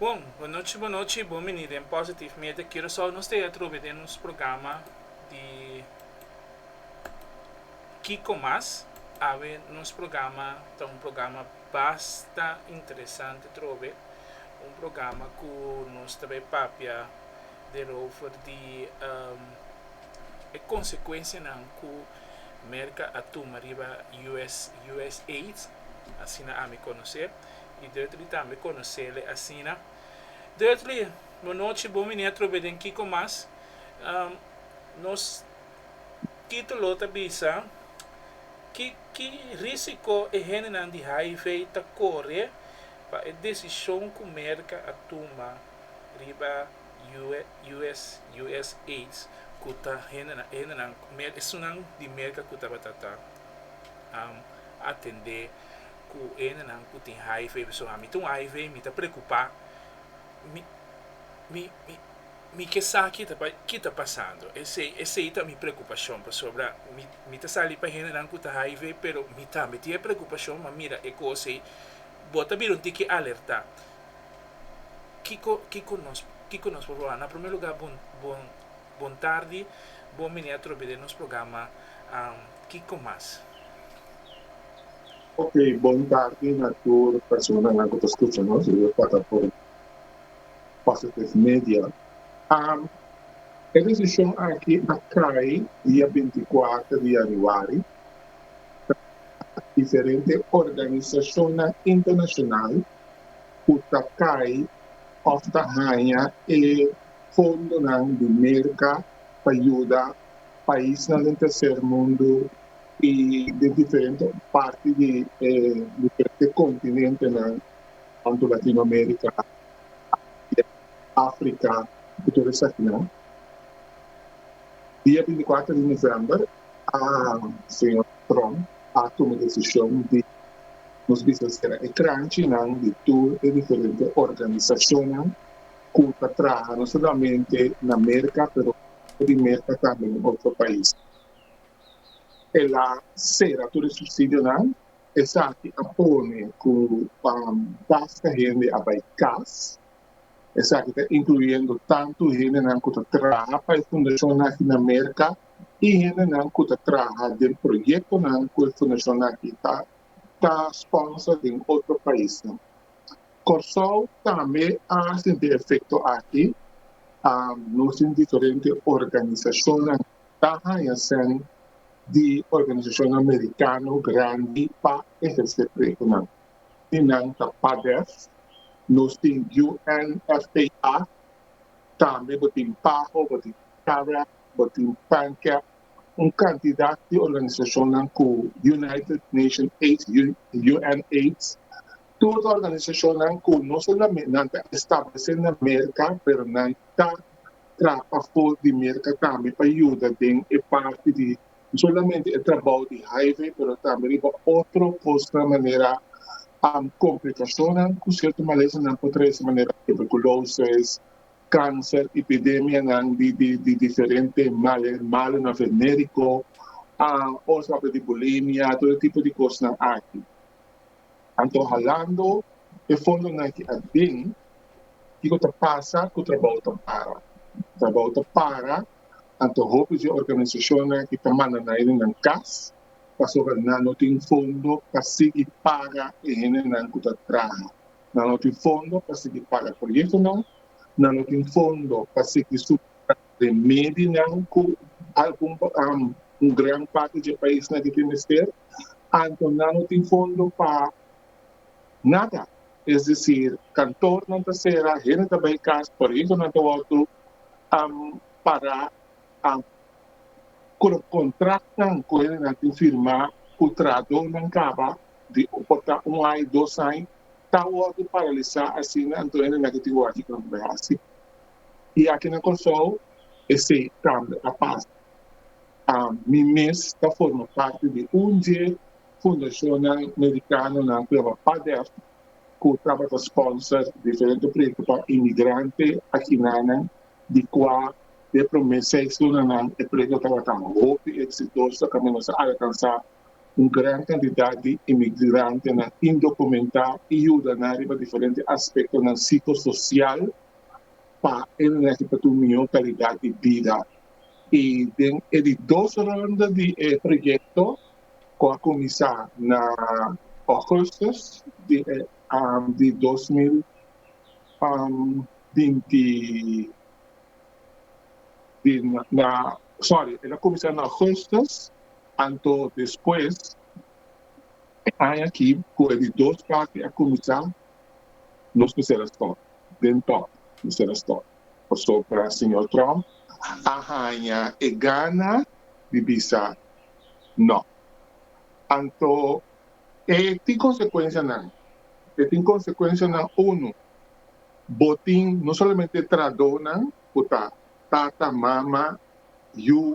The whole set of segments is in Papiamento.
Bon, bonochi bonochi, bon bini den Positive Media Curacao. Nos ta e atrobe den nos programa di. Kiko mas, awe nos programa ta un programa basta interesante trobe, un programa ku nos ta bai papia derover di e konsekuensianan ku Merka a tuma riba US, usaid, asina ami konos'é i Dudley tambe konos'é asina. Dudley, bonochi, bo mini atrobe den Kiko mas. Nos. Título ta bisa kiki rísiko e hendenan di hiv ta kore pa e desishon ku Merka a tuma riba USAIDs ku ta hendenan esunnan di Merka ku tabata ta atendé ku e hendenan ku tin hiv. Pasobra ami ta un hiv mi ta preokupá mi. Mi ke sa ki ta pasando. Esei esei ta mi preokupashon pasobra mi mi ta sali pa hendenan ku ta hiv pero mi tambe tin e preokupashon ma mira e kos ei bo ta bira un tin ke alertá. Kiko kiko nos kiko nos por wawá? Na promé lugá bon bon bon tardi bon mene atrobe den nos programa kiko mas? Ok bon tardi na tur personanan ku ta skucha nos. Yo ta ta por. Positive Media. E desishon aki a kai dia binti-kuater di yanüari na diferente organisashonnan internashonal ku ta kai òf ta haña e fondonan di Merka pa yuda paisnan den terser mundu i den diferente parti di e diferente kontinentenan. Tantu Latinoamerika, Asia, Afrika ku tur esaki nan. Dia binticuater di november a señor Trump a tuma e desishon di nos bisa sera e kranchinan di tur e diferente organisashonnan ku ta traha no solamente na Merka pero fuera di Merka tambe na otro pais. El a sera tur e subsidionan. Esaki a pone cu pa basta hende a bay cas. Esaki ta incluyendo tanto hendenan cu ta traha pa e fundacion aki na Merca y hendenan cu ta traha den proyectonan cu e fundacion aki ta ta sponsor den otro paisnan. Corsou tambe a sinti e efecto aki. Nos tin diferente organisacionnan ta haya sèn di organisashon amerikano grandi pa ehersé presionan. Di nan ta PADEF, nos tin UNFPA, tambe bo tin PAHO, bo tin CAREC, bo tin PANCAP, un kantidat di organisashonnan ku United Nation Aids, UNAIDS, tur organisashonnan ku no solamente nan ta establesé na Merka pero nan ta trapa for di Merka tambe pa yuda den e parti di no solamente e trabou di highway pero tambe riba otro cosnan manera complicacionnan cu cierto malesanan por trece manera tuberculosis, cancer, epidemianan di di diferente malunan venerico, oswa di bulimia, todo tipo di cosnan aki. Anto halando e fondonan ki a den, kiko ta pasa ku trabou ta para? Trabou ta para, anto hopi di e organisashonnan ki ta manda nan hende nan kas pasobra nan no tin fondo pa sigui paga e hendenan ku ta traha. Nan no tin fondo pa sigui paga proyektonan, nan no tin fondo pa sigui supra remedinan ku algun gran parti di e paisnan ki tin mester. Anto nan no tin fondo pa nada, es decir, kantornan ta sera, hende ta bai kas, proyektonan ta wòrdu pará, ku lo kontratonan ku hendenan tin firmá ku trahadónan kaba di por ta un ai, dos ai, ta wòrdu paralisá asina, anto hende na ke tin wòrdu aki tambe bai hasi. I aki na Kòrsou esei tambe a pasa. Mi mes ta forma parti di un dje fundashonnan merikanonan ku yama PADEF ku tabata spònser diferente proyekto pa imigrante akinanan di kua den e promé seis lunanan e proyekto tabata hopi eksitoso kaminda nos a alkansá un gran kantidat di imigrantenan indokumentá i yuda nan riba diferente aspektonan sikososial pa e migrante pa tin un mihó kalidat di bida. y den e di dos ronda di e proyecto cu a cuminsa na augustus di e di dos mil binti sorry el a cuminsa na augustus anto despues e aña aki cu e di dos parti a cuminsa nos lo cera store den top lo cera store. Pasobra señor Trump a haña e gana di bisa no. Anto e tin consecuencianan. E tin consecuencianan unu, bo tin no solamente tradonan cu ta tata, mama, yu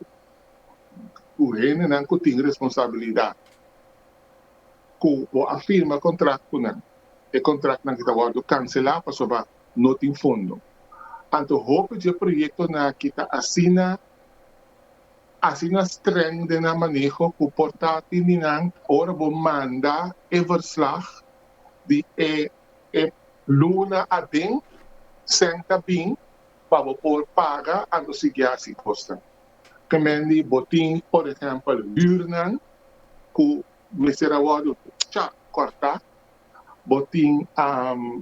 cu hendenan cu tin responsabilidad cu bo a firma contractonan. E contractnan ta wordo cancela pasobra no tin fondo. Anto hopi dje proyektonan aki ta asina asina streng den nan maneho ku por ta tin di nan ora bo manda e verslag di e e luna aden sèn ta bin pa bo por paga anto sigui hasi kosnan. Kemen di bo tin por ehèmpel hürnan ku mester a wòrdu chak kòrtá bo tin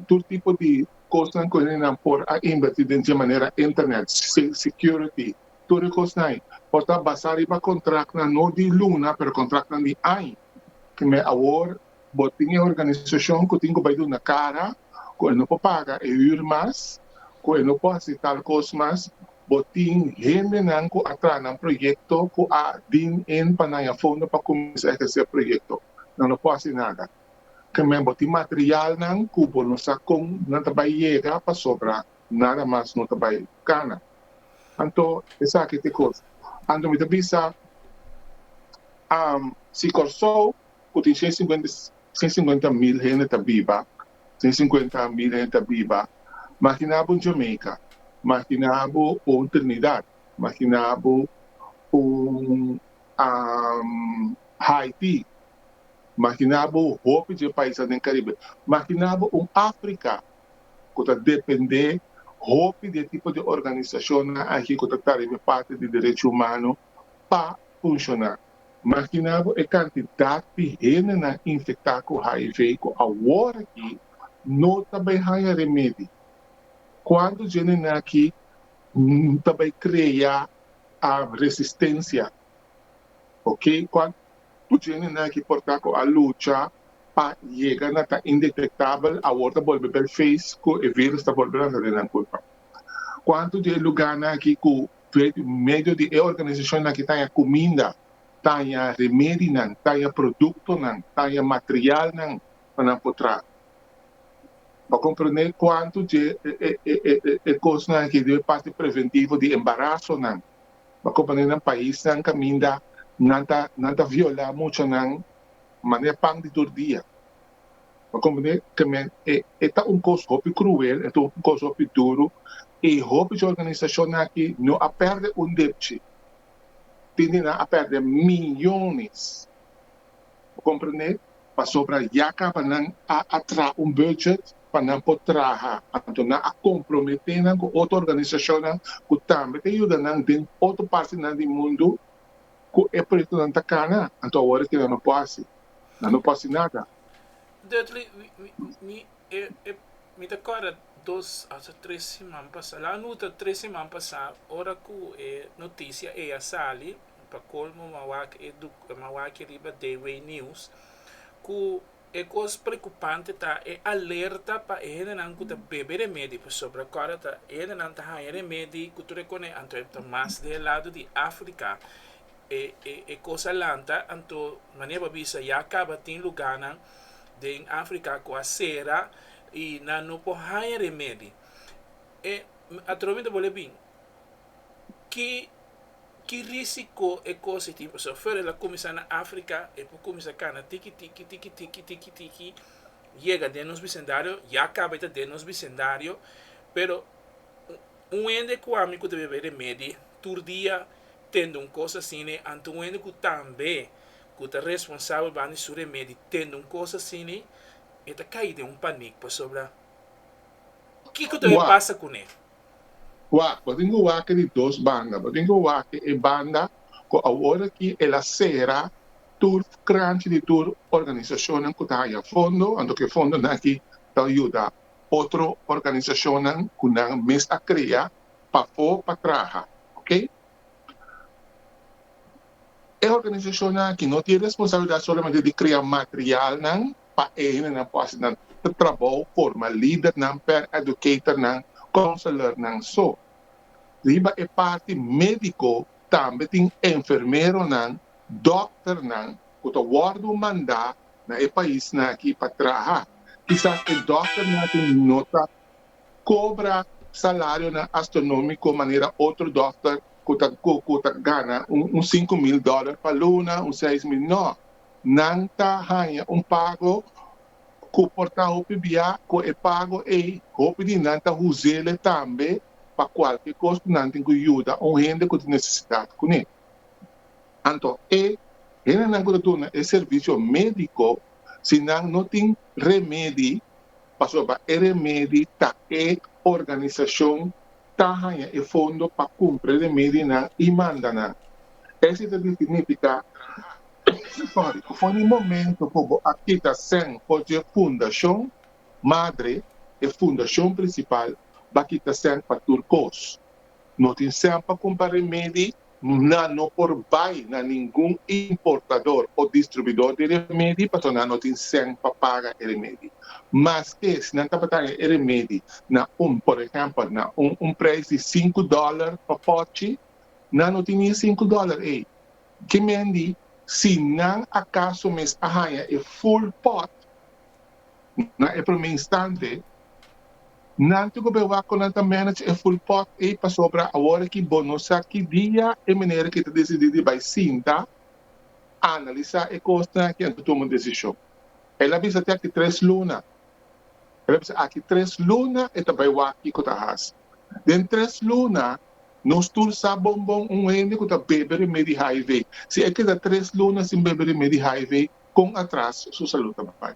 tur tipo di kosnan ku hende por a inverti den dje manera internet, security, tur e kosnan ei por ta basa riba kontraktnan no di luna pero kontraktnan di aña. Promé awor bo tin e organisashon ku tin ku bai duna kara ku e no por paga e hür mas, ku e no por hasi tal kos mas, bo tin hendenan ku a traha nan proyekto ku a deen in pa nan ya fondo pa kuminsá ehersé proyekto. Nan no por hasi nada. Tambe bo tin materialnan ku bo no sa kon nan ta bai yega pasobra nada mas no ta bai kana. Anto esaki ta e kosa. Anto mi ta bisa am si Kòrsou ku tin shen sinkuenta shen sinkuenta mil hende ta biba, shen sinkuenta mil hende ta biba, makina bo un Jamaica, makina bo un Trinidad, makina bo un am Haiti, Makina bo hopi dje paisnan den Karibe. Makina bo un Afrika ku ta dependé hopi di e tipo di organisashonnan aki ku ta tariba e parti di derecho humano pa funshoná. Makina bo e kantidat di hendenan infektá ku hiv ku aworakí no ta bai haña remedi. Kuantu dje nennan aki ta bai kreá resistensia. Oke. Ku djene naki por ta ku a lucha pa yega na ta indetektabel, awor ta bolbe bel fees ku e vírùs ta bolbe lanta den nan kulpa. Kuantu di e lugánan aki ku por medio di e organisashonnan aki taña kuminda, taña remedinan, taña produktonan, taña materialnan pa nan por traha? Bo a komprendé kuantu dje e kosnan aki debe parti preventivo di embarasonan pa ku manera nan paisnan kaminda nan ta nan ta violá mucha nan manera pan di tur dia. Bo komprendé? Te me e e ta un kos hopi kruel, e ta un kos hopi duru i hopi di organisashonnan aki no a pèrdè un depchi. Tin di nan a pèrdè miyones Bo comprende? Pasobra ya caba nan a atra un budget pa nan por traha, anto nan a compromete nan cu otro organisacionnan cu tambe ta yuda nan den otro partinan di mundo cu e proyectonan ta cana. Anto awor kico nan no por haci? Nan no por haci nada. Dudley, Mi e, mi ta corda dos ato tres siman pasa, la nu ta tres siman pasa ora cu e noticia ey a sali, Pa colmo mawak e duk e mawaki riba Dewey News cu e cos preocupante ta e alerta pa e hendenan cu ta bebe remedi pasobra cora ta e hendenan ta haya remedi cu tur e cone anto e ta mas den e lado di Africa e e e cos a lanta anto manera bo a bisa ya caba tin lugarnan den Africa cu a cera y nan no por haya remedi e atrobamento bo le bin. ki ki risiko e kos e tin paso afuera e la kuminsá na afrika e por kuminsá kana tiki tiki tiki tiki tiki tiki yega den nos bisendario ya kaba e ta den nos bisendario pero un hende ku ami ku ta bebe remedi tur dia tende un kos asini anto un hende ku tambe ku ta responsabel ban di su remedi tende un kos asini e ta kai den un panik pasobra kiko ta bin pasa kuné. Wak, bo tin cu wake di dos banda, bo tin cu wake e banda cu aworaquí el a cera tur cranchi di tur organisacionnan cu ta haya fondo, anto cu e fondonan aqui ta yuda otro organisacionnan cu nan mes a crea pafó pa traha, ok. E organisacionnan aqui no tin e responsabilidad solamente di crea materialnan, pa e hendenan por hasi nan trabou forma lidernan, paraeducatornan, counselornan so. Riba e parti medico tambe tin enfermeronan, dokternan cu ta wordo manda na e paisnan aki pa traha. Kisas e dokternan aki no ta cobra salarionan astronomico manera otro dokter cu ta gana un sinku mil dollar pa luna, un seis mil, no. nan ta haña un pago ku por ta hopi biaha. Ku e pago ei hopi di nan ta hus'é tambe pa kualke kos ku nan tin ku yuda un hende ku tin nesesidat kuné. Anto e hendenan ku ta duna e servisio médiko, si nan no tin remedi, pasobra e remedi ta e organisashon ta haña e fondo pa kumpra di medinan i manda nan. Esi ta di signifiká traha obligatori ku for di momentu ku bo a kita sèn for dje fundashon madre, e fundashon prinsipal, bo a kita sèn pa tur kos. No tin sèn pa kumpra remedi Nan no por bai na ningun importador o distribuidor di remedi pasobra nan no tin cen pa paga e remedi. Maske si nan tabata haña e remedi na un, por ehèmpel, na un un preis di sinku dòler pa pòchi, nan no tin ni e sinku dòler ei. Ke mendi si nan akaso mes a haña e ful pòt. Na e promé instante, nan tin ku bewá kon nan ta manage e ful pòt ei pasobra awor aki bo no sa ki dia e manera ki ta desidí di bai sinta, analisá e kosnan aki anto tuma un desishon. El a bisa te aki tres luna. El a bisa, Aki tres luna e ta bai wak kiko ta hasi. Den tres luna nos tur sa bon bon un hende ku ta bebe remé di HIV. Si e keda tres luna sin bebe remé di HIV, kon atras su salú ta bai?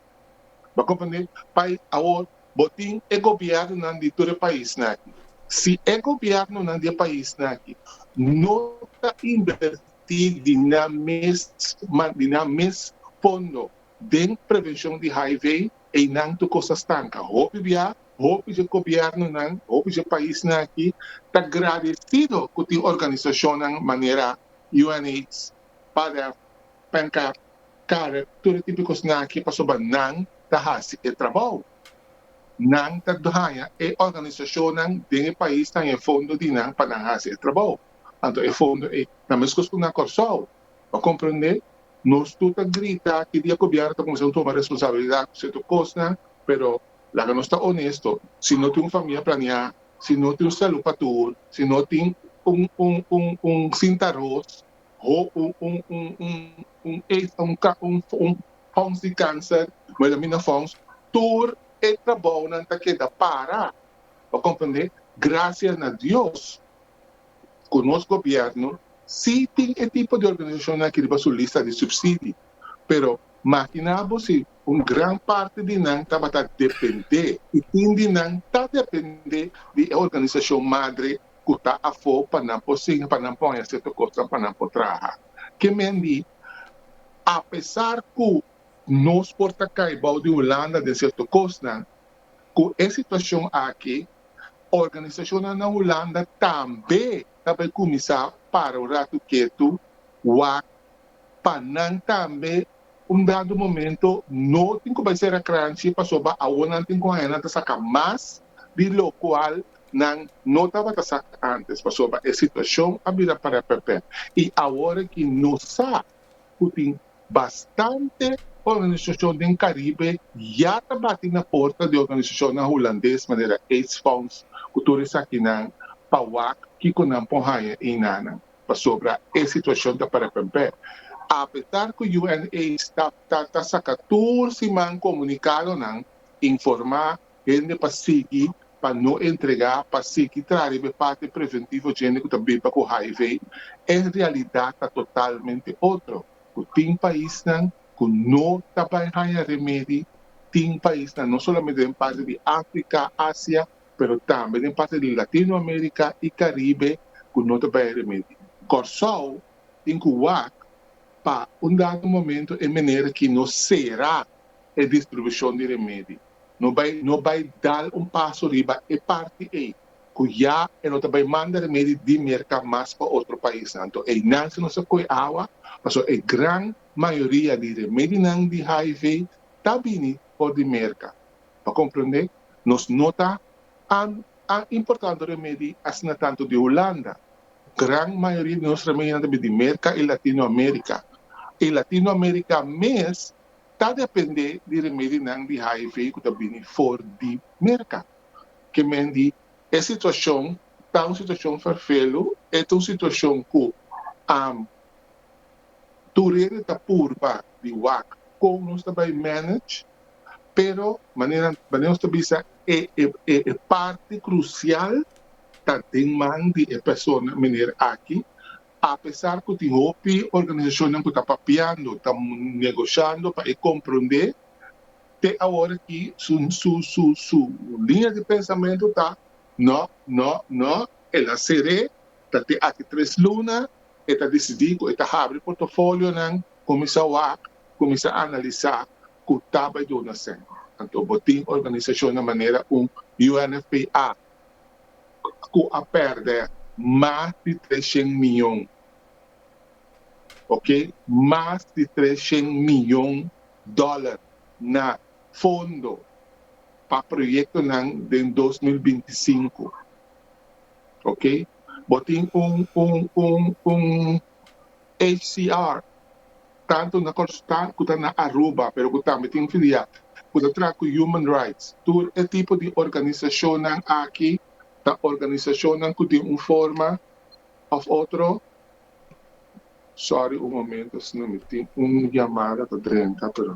Bo a comprende? Pai awor bo tin e gobiernonan di tur e paisnan aki. Si e gobiernonan di e paisnan aki no ta inverti di nan mes man di nan mes fondo den prevencion di hiv, einan tur cos ta stanca. Hopi bia, hopi dje gobiernonan, hopi dje paisnan aki ta gradecido cu tin organisacionnan manera UNAIDS pada, penka, kare, tur e tipo di kosnan aki pasobra nan ta hasi e trabou. Nan ta haña e organisashonnan den e pais ta haña e fondo di nan pa nan hasi e trabou. Anto e fondo ei ta meskos ku nan Kòrsou. Bo komprendé? Nos tur ta grita ki di e gobièrnu ta kuminsá tuma responsabilidat ku sierto kosnan, pero laga nos ta onesto, si no tin un famia planeá, si no tin un salú pa tur, si no tin un un un un sinta aros, ho un un un un un ex un ka un fo un fons di cancer melamina fons tur e trabounan ta keda para bo comprende gracia na Dios cu nos gobierno si tin e tipo di organisacionnan aki riba su lista di subsidi pero makina bo si un gran parti di nan tabata depende y tin di nan ta depende di e organisacion madre ku ta afó pa nan por singa, pa nan por haña sierto kosnan, pa nan por traha. Ke men di, Apesar ku nos por ta kai bou di Hulanda den sierto kosnan, ku e situashon aki organisashonnan na Hulanda tambe ta bai kuminsá para un ratu ketu, wak, pa nan tambe un dado momento no tin ku bai sera kranchi pasobra awor nan tin ku haña nan ta saka mas di locual nan no tabata sa antes, pasobra e situacion a bira para pèpè y awor aki no sa cu tin bastante organisacion den Caribe ya ta bati na porta di organisacionnan Hulandes manera aids Fonds cu tur esakinan pa wak kico nan por haya eynan nan, pasobra e situacion ta para pèpè. Apesar cu UNAIDS ta ta saca tur siman comunicadonan informa hende pa sigui pa no entrega pa sigui traha riba e parti preventivo dje hende cu ta biba cu hiv, e realidad ta totalmente otro, cu tin paisnan cu no ta bay haya remedi, tin paisnan no solamente den parti di Africa, Asia, pero tambe den parti di Latino America y Caribe cu no ta bay remedi. Corsou tin cu wak pa un dado momento e meneer aki no cera e distribushon di remedi. No bai no bai dal un paso riba e parti ei ku ya e no ta bai manda remedi di Merka mas pa otro paisnan. Anto einan si nos ta koe awa pasobra e gran mayoria di remedinan di hiv ta bini for di Merka. Pa komprende nos no ta a a importando remedi asina tantu di Hulanda. Gran mayoria di nos remedinan ta bini di Merka i Latino Amerika. I Latino Amerika mes ta dependé di remedinan di hiv ku ta bini for di merka. Ke men di e situashon ta un situashon ferfelu, e ta un situashon ku am tur hende ta purba di wak kon nos ta bai manage, pero manera manera nos ta bisa e e e parti krusial ta den man di e persona meneer aki, Apesar ku tin hopi organisashonnan ku ta papiando, ta negoshiando pa e komprondé, te awor aki su liña di pensamentu ta, No, no, no, el a ser'é, ta te aki tres luna, e ta disidí ku e ta habri portofolionan, kuminsá wak, kuminsá analisá ku ta bai duna sèn. Anto bo tin organisashonnan manera un UNFPA, cu a perde mas di treshen miyon, ok, mas di treshen miyon dollar na fondo pa proyectonan den dos mil binti i sinku, ok. Bo tin un, un, un, un. HCR, tantu na Kòrsou-Taal ku ta na Aruba, pero ku tambe tin filia ku ta traha ku human rights. Tur e tipo di organisashonnan aki ta organisashonnan ku den un forma òf otro, Sòri un momento sino mi tin un yamada ta drenta pero.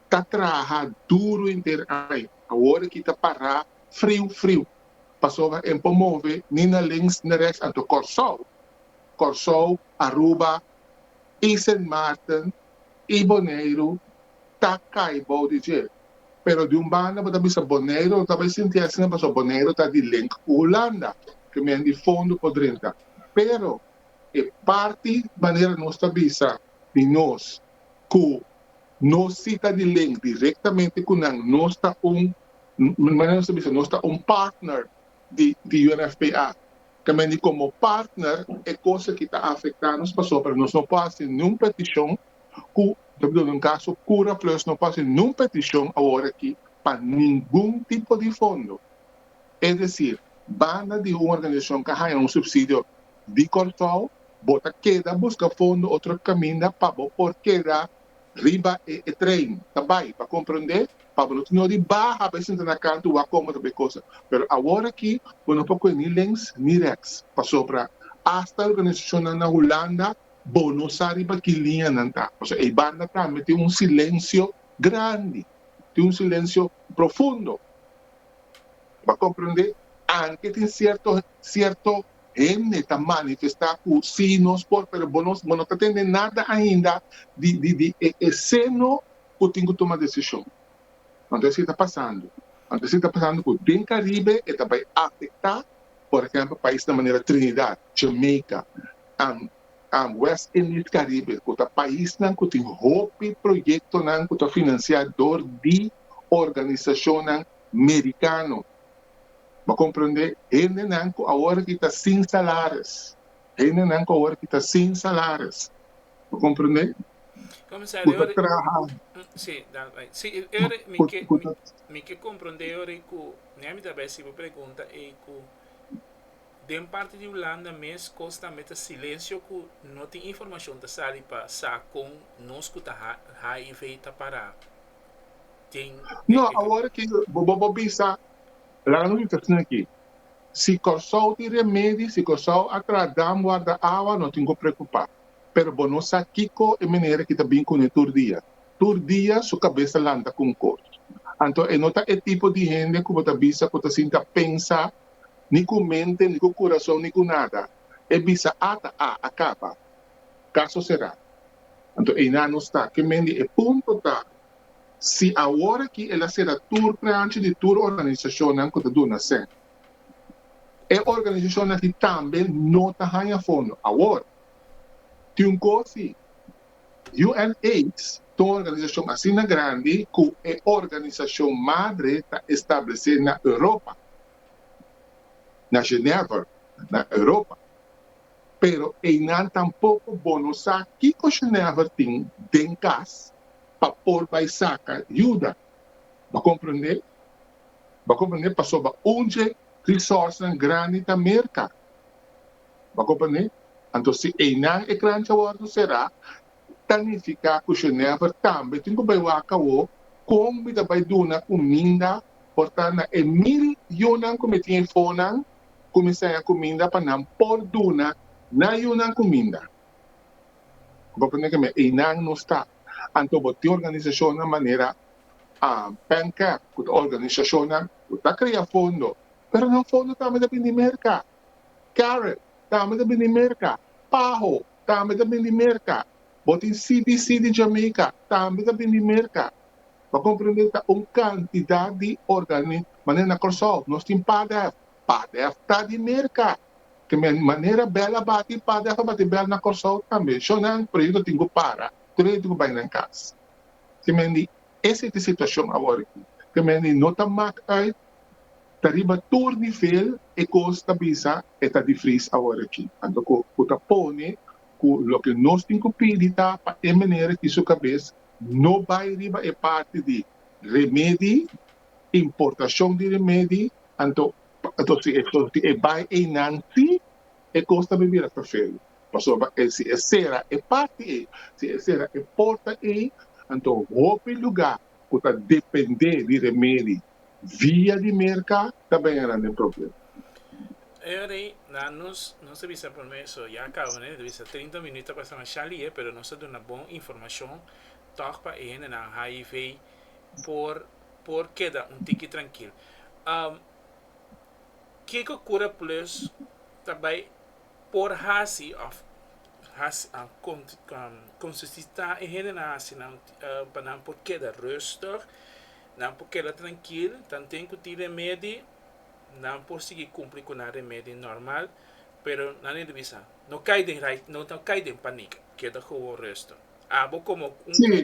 ta traha duru henter aña, awor aki ta pará friu friu, pasobra e por move ni na links ni reks, anto Kòrsou, Kòrsou, Aruba i Sint Maarten i Boneiru ta kai bou di djer. Pero di un banda bo ta bisa Boneiru lo ta bai sinti asina pasobra Boneiru ta di link ku Hulanda, ke men di fondo por drinta, pero e parti manera nos ta bisa di nos ku nos si ta di link directamente cu nan nos ta un nos ta un partner di UNFPA ta men di como partner e cos aki ta afecta nos pasobra nos no por haci niun peticion cu ta hablando un caso Cura Plus no por haci niun peticion awor aki pa ningun tipo di fondo es decir banda di un organizacion ca haña un subsidio di Kòrsou, bo ta keda buska fondo otro kaminda pa bo por keda riba e trein ta bai. Pa komprondé pa bo no tin ori baha bai sinta na kantu wak komo ta bo e kosa. Pero awor aki bo no por kue ni links ni reks pasobra asta organisashonnan na Hulanda bo no sa riba ki liña nan ta. Pasobra ei banda tambe tin un silensio grandi, tin un silensio profundo. Bo a komprondé? Anke tin sierto sierto hende ta manifestá ku sí nos por pero bo no bo no ta tende nada ainda di di di e e seno ku tin ku tuma desishon. Anto esei ta pasando. Anto esei ta pasando ku den Karibe e ta bai afektá por ehèmpel paisnan manera Trinidad, Jamaica, and and West Indies Karibe ku ta paisnan ku tin hopi proyektonan ku ta finansiá dor di organisashonnan merikano. Bo comprende? Hendenan cu awor aki ta sin salaris. Hendenan cu awor aki ta sin salaris. Bo comprende? Cu ta traha. Sí, da, right. Sí, e ora mi ke, mi, mi ke comprende ora e cu, ne mi ta bay si bo pregunta ey cu den parti di Hulanda mes cos tambe ta silencio cu no tin informacion ta sali pa sa con nos cu ta ha, HIV ta para. tin tin No, tin. awor ki bo bo bo bisa, laga nos bisa asina aki, si Kòrsou tin remedi, si Kòrsou a traha dam warda awa, no tin ku preokupá. Pero bo no sa kiko e minera ki ta bin kuné tur dia. Tur dia su kabes ta lanta ku un kos. Anto e no ta e tipo di hende ku bo ta bisa ku ta sinta pensa ni ku mente, ni ku kurason, ni ku nada. E bisa a ta a, a kaba. Caso cerá. Anto einan nos ta kemen di e punto ta si awor aki el a cera tur plancha di tur organisacionnan cu ta duna cen. E organisacionnan aki tambe no ta haña fondo. Awor, tin un cosi, UNAIDS ta un organisacion asina grandi cu e organisacion madre ta establece na Europa, na Genever, na Europa. pero einan tampoco bo no sa kico Genever tin den cas pa por bay saca yuda. Bo comprende? Bo comprende pasobra un dje resourcenan grandi ta merca. Bo comprende? Anto si einan e crancha wordo cera, ta nifiká ku Genever tambe tin ku bai waka awó kon mi ta bai duna kuminda por ta na e mil yunan ku mi tin ei fonan ku mi seña kuminda pa nan por duna nan yunan kuminda. Bo a prende ku mi einan no sta. Anto bo tin organisashonnan manera PANCAP ku ta organisashonnan ku ta krea fondo pero nan fondo tambe ta bini Merka, CAREP tambe ta bini Merka, PAHO tambe ta bin di Merka. Bo tin CBC di Jamaica, tambe ta bin di Merka. Bo a komprende, ta un kantidat di organi, manera na Kòrsou, nos tin Padef, Padef ta di Merka. Te manera bèl a bati Padef, a bati bèl na Kòrsou tambe. Shonang, proyekto tin ku para, tur e gente tin ku bai nan kas. Simendi. Ese ta e situacion awor aki. Te mende no ta maak uit, ta riba tur nivel, e cos ta bisa e ta difriz awor aki. Anto cu cu ta pone cu loke nos tin cu pidi ta pa e meneer aki su cabez no bay riba e parti di remedi, importacion di remedi, anto si e bay einan si E kos ta bira perferu, pasobra si e sera e parti ei, si e sera e porta ei, anto hopi lugá ku ta dependé di remedi via di merka ta bira den problem. Henry, nan nos nos ta bisa promé so ya kaba nel ta bisa trinta minüt ta pasa mashá lihe pero nos ta duna bon informashon tòg pa e hendenan hiv por por keda un tiki trankil. Kiko Cura Plus ta bai por hasi of consisita e hendenan hasi pa nan por keda rustig, nan por keda trankil, nan tin ku tin remedi, nan por sigui kumpli ku nan remedi normal, pero nan debe bisa no kai den no kai den panik, keda gewoon rustig. Abo komo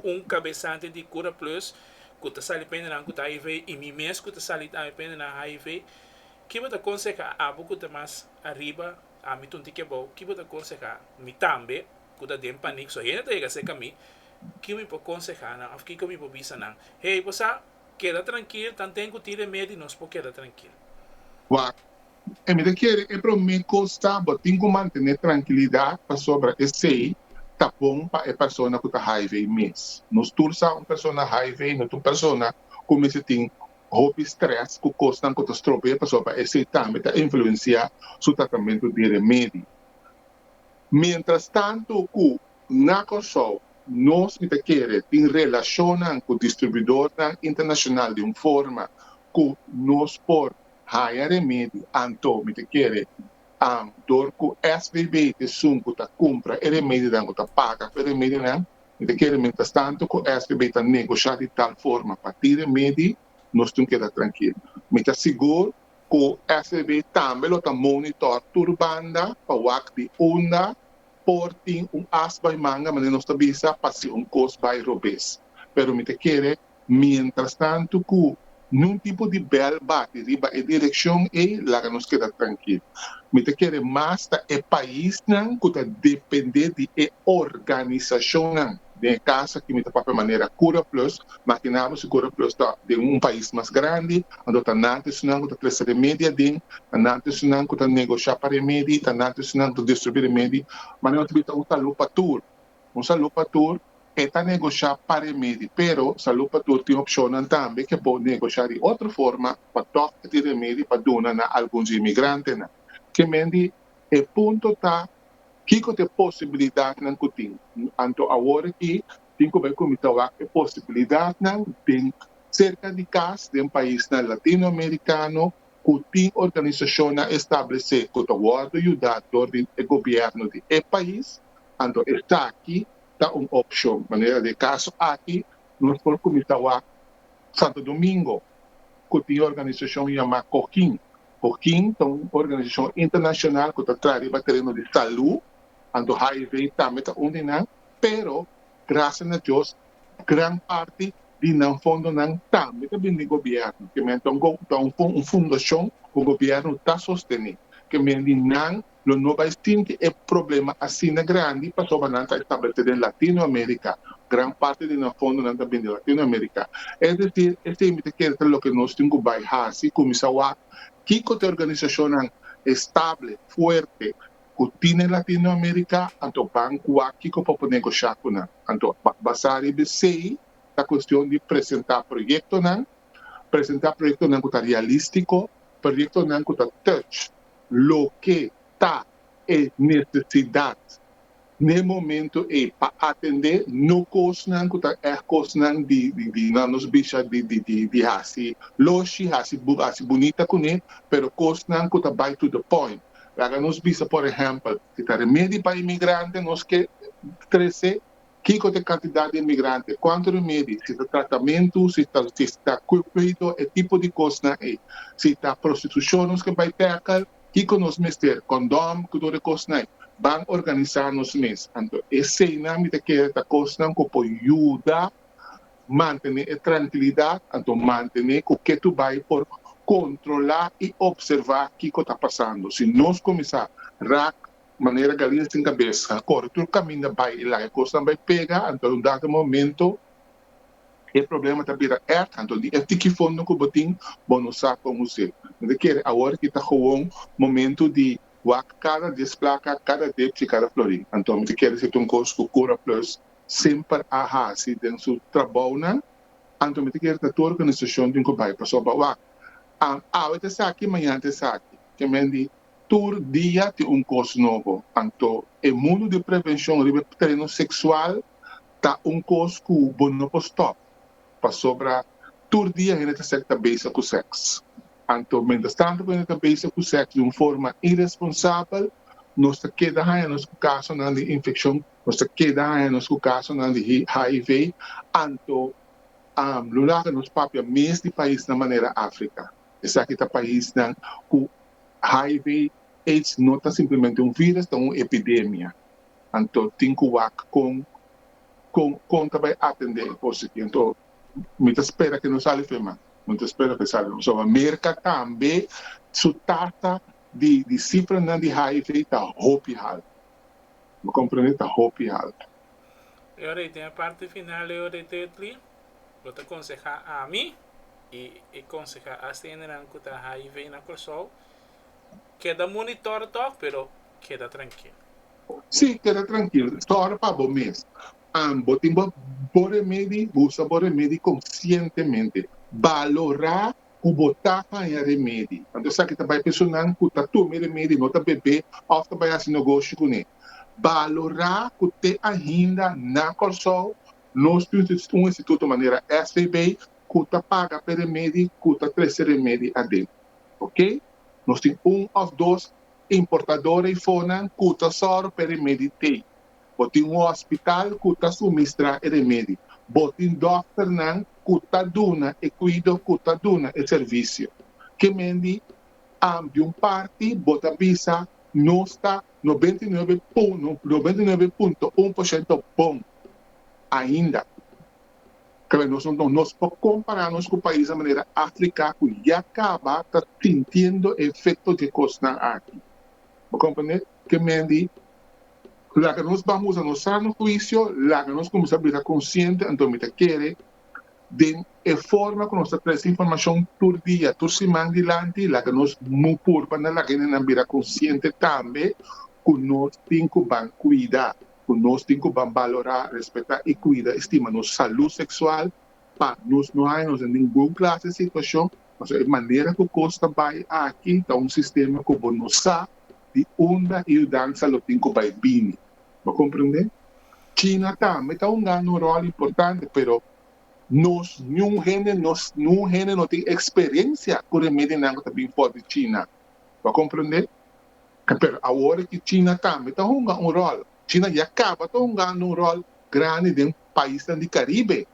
un kabesante di Kura Plus ku ta sali pendenan ku ta hiv i mi mes ku ta sali tambe pendenan hiv, ki bo ta konsehá abo ku ta mas ariba ami tun tiki abou? Ki bo ta konsehá mi tambe ku ta den panik so hende ta yega seka mi? Ki mi por konsehá nan òf kiko mi por bisa nan? Hey, bo sa, keda trankil, tanten ku tin remedi nos por keda trankil. Wak, E mi ta kere e promé kos ta bo tin ku mantené trankilidat pasobra esei ta bon pa e persona ku ta hiv mes. Nos tur sa un persona hiv no ta un persona ku mester tin hopi strès ku kosnan ku ta strope'é pasobra esei tambe ta influensiá su tratamentu di remedi. Mientrastantu ku na Kòrsou nos mi ta kere tin relashonnan ku distribuidornan internashonal di un forma ku nos por haya remedio anto mi ta kere am dor ku SBB ta esun ku ta kumpra e remedionan ku ta paga pa e remedionan mi ta kere mientras tanto ku SBB ta negosha di tal forma pa tin remedi nos tin keda trankil mi ta sigur ku SBB tambe lo ta monitor tur banda pa wak di unda por tin un as bai manga manera nos ta bisa pa si un kos bai robes pero mi ta kere mientras tanto cu nun tipo di bel bati riba e direccion ey laga nos keda trankil. Mi ta kere mas ta e paisnan cu ta depende di e organisacionnan den e cas aki mi ta papia manera Cura Plus, makinabo si Cura Plus ta den un pais mas grandi anto ta nan ta esunnan cu ta presta remedi aden, ta nan ta esunnan cu ta negocia pa remedi, ta nan ta esunnan cu ta distribuir remedi, manera nos ta bisa un salud pa tur. Un salú pa tur e ta negoshá pa remedi, pero salú pa tur tin opshonnan tambe ke por negoshá di otro forma pa tòg di remedi pa duna na alguns inmigrantenan. Kemen di e punto ta kiko ta e posibilidatnan ku tin. Anto awor aki tin ku bai kuminsa wak e posibilidatnan den serka di kas den paisnan latinoamerikano, ku tin organisashonnan establesé ku ta wòrdu yudá dor di e gobièrnu di e pais, anto esaki ta un opshon. Manera di e kaso aki, nos por kuminsá wak Santo Domingo ku tin e organisashon yamá Cohin. Cohin ta un organisashon internashonal ku ta traha riba tereno di salú, anto hiv tambe ta un di nan. pero gracia na Dios gran parti di nan fondonan tambe ta bini di gobierno ke men ta un fundacion cu gobierno ta sostene ke men di nan lo no bay sinti e problema asina grandi pasobra nan ta establece den Latino America gran parti di nan fondonan ta bini di Latino America es decir esei'mbi ta kere ta loke nos tin cu bay haci cuminsa wak kico ta e organizacionnan estable fuerte ku tine Latinoamerika, anto ban kua kiko pa por negosha ku nan. Anto basá riba esei ta kuestion di presentá proyektonan, presentá proyektonan ku ta realístiko, proyektonan ku ta touch loke ta e nesesidat n'e momentu ei pa atendé no kosnan ku ta ègt kosnan di nan nos bisha di hasi loshi, hasi bunita kuné, pero kosnan ku ta bai to the point. Laga nos bisa por ehèmpel, si ta remedi pa emigrante nos ke trese kiko ta e kantidat di emigrante, kuantu remedi, si ta tratamentu, si ta si ta kuido, e tipo di kosnan ei. Si ta prostitushon nos ke bai tèkel, kiko nos mester, kondòm ku tur e kosnai. Ban organisá nos mes. Anto eseinan mi ta kere ta kosnan ku por yuda Mantené e trankilidat, anto mantené ku ke tu bai por kontrolá i opservá kiko ta pasando. Si nos kuminsá rak manera galina sin kabesa, kore tur kaminda bai e laga kosnan bai pega, anto un dado momento e problema ta bira ert, anto di e tiki fondo ku bo tin bo no sa kon hos'é. No ta kere awor ki ta gewoon momento di wak kada desplaka, kada depchi, kada florí. Anto mi ta kere si ta un kos ku Curaplus semper a hasi den su trabounan, anto mi ta kere ta tur organisacion tin cu bay pa so bawa. An awe ta esaki, mañana ta esaki. Ke men di tur dia tin un cos nobo. Anto e mundo di prevencion riba e tereno sexual ta un cos cu bo no por stop pasobra tur dia hende ta ser ta bezig cu sex. Anto mientras tanto cu hende ta bezig cu sex di un forma irresponsabel nos ta keda haña nos cu casonan di infeccion. Nos ta keda haña nos ku kasonan di hiv anto lo laga nos papia mes di paisnan manera Afrika. Esaki ta paisnan ku hiv, aids no ta simplemente un vírus, ta un epidemia. Anto tin ku wak kon kon kon ta bai atendé e kos aki. Anto mi ta spera ke no sali fe man. Mi ta spera ke sali so. Merka tambe su tasa di di sifranan di hiv ta hopi haltu. Bo comprende ta hopi alto. E ora y den e parti final e ora y ta etli, bo ta conseha ami y e conseha ACNnan cu ta hiv na Curaçao, keda monitor tok pero keda trankil. Si, keda trankil. Sor pa bo mes. Bo tin bo remedi, bo usa bo remedi conscientemente. Balora ku bo ta haña remedi. Anto esaki ta bai personan ku ta tuma e remedi, no ta bebe òf ta bai hasi negoshi kuné. Balorá ku te ainda na Kòrsou nos tin un instituto manera SVB ku ta paga pa e remedi ku ta trese remedi aden. Ok. Nos tin un òf dos importador eifonan ku ta sòru pa e remedi t'ei. Bo tin un hospital cu ta sumistra e remedi. Bo tin dokternan cu ta duna e cuido, cu ta duna e servicio. Kemendi am di un parti bo ta bisa nos ta nobenta i nuebe nobenta i nuebe punto un por shento bon ainda. Kla nos no nos por compara nos cu paisnan manera Africa cu ya caba ta sintiendo e efecto di e cosnan aki. Bo comprende? Temendi, laga nos ban usa nos sano huisio, laga nos kuminsá bira konsiente anto mi ta kere den e forma ku nos ta trese informashon tur dia, tur siman dilanti, laga nos mu pur pa nan laga hendenan bira konsiente tambe ku nos tin ku ban kuida, ku nos tin ku ban balorá, respetá i kuida i stima nos salú seksual, Pa nos no hay nos den ningun klas di situashon, pasobra e manera ku kos ta bai aki ta un sistema ku bo no sa di unda e yudansa lo tin ku bai bini. Bo komprendé? China tambe ta hungando un ròl importante, pero nos niun hende no niun hende no tin eksperensia ku remedinan ku ta bin for di China. Bo a komprendé? Pero awor aki China tambe ta hunga un ròl. China ya kaba ta hungando un ròl grandi den paisnan di Caribe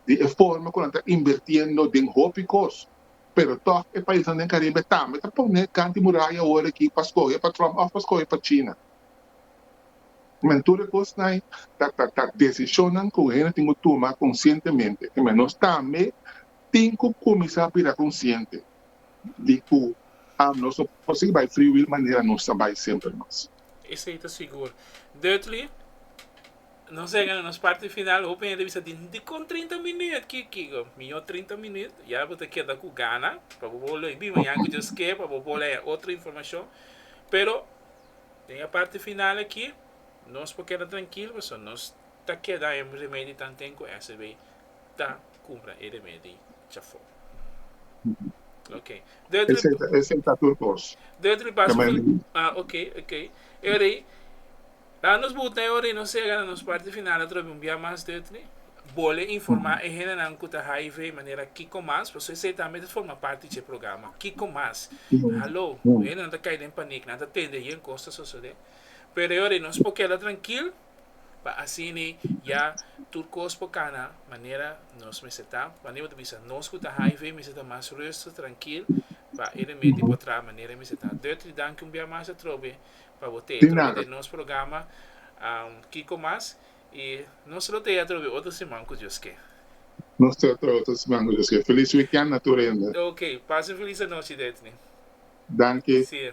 di e forma cu nan ta invirtiendo den hopi cos, pero toch e paisnan den Caribe tambe ta pone kant di muraya awor aki pa scoge pa Trump of pa scoge pa China. Men tur e cosnan ta decisionnan cu hende tin cu tuma conscientemente y men nos tambe tin cu cuminsa bira consciente di cu nos no por sigui bay free will manera nos ta bay semper mas. Esey ta sigur. Dudley. Nos a yega na nos parti final, hopi hende bisa tin, dikon trinta minüt? Ki kico? Mijo trinta minüt, ya bo ta keda cu gana pa bo bolo a bin mañana cu Dios kier pa bo bolo a haña otro informacion. Pero den e parti final aki nos por keda trankil pasobra nos ta keda e remedi ta anten cu SEB ta cumpra e remedi djafo. Ok. Esei ta tur cos. Dutri Bas, ok, ok. Ey, Ta nos buta e ora y nos sega na nos parti final atrobes di un bia mas di otro. Bol e informa e hendenan cu ta hiv manera kico mas, pasobra esey tambe ta forma parti di dje programa. Kico mas? Halo, cu hende no ta cay den panic, nan ta tende ayer cos ta sosode. Pero e ora y nos por keda trankil, pa asini ya tur cos por cana manera nos mester ta. Wande bo ta bisa nos cu ta hiv mester ta mas ruster, trankil, pa e remedi por traha manera e mester ta. Dutry, danki un bia mas atrobe. pa bo tee trobe den nos programa kiko mas y nos lo tea trobe otro siman cu Dios ke. Nos tea trobe otro siman cu Dios ke feliz weekend na tur hende. Ok pasa un feliz anochi Detni. Danki. Si.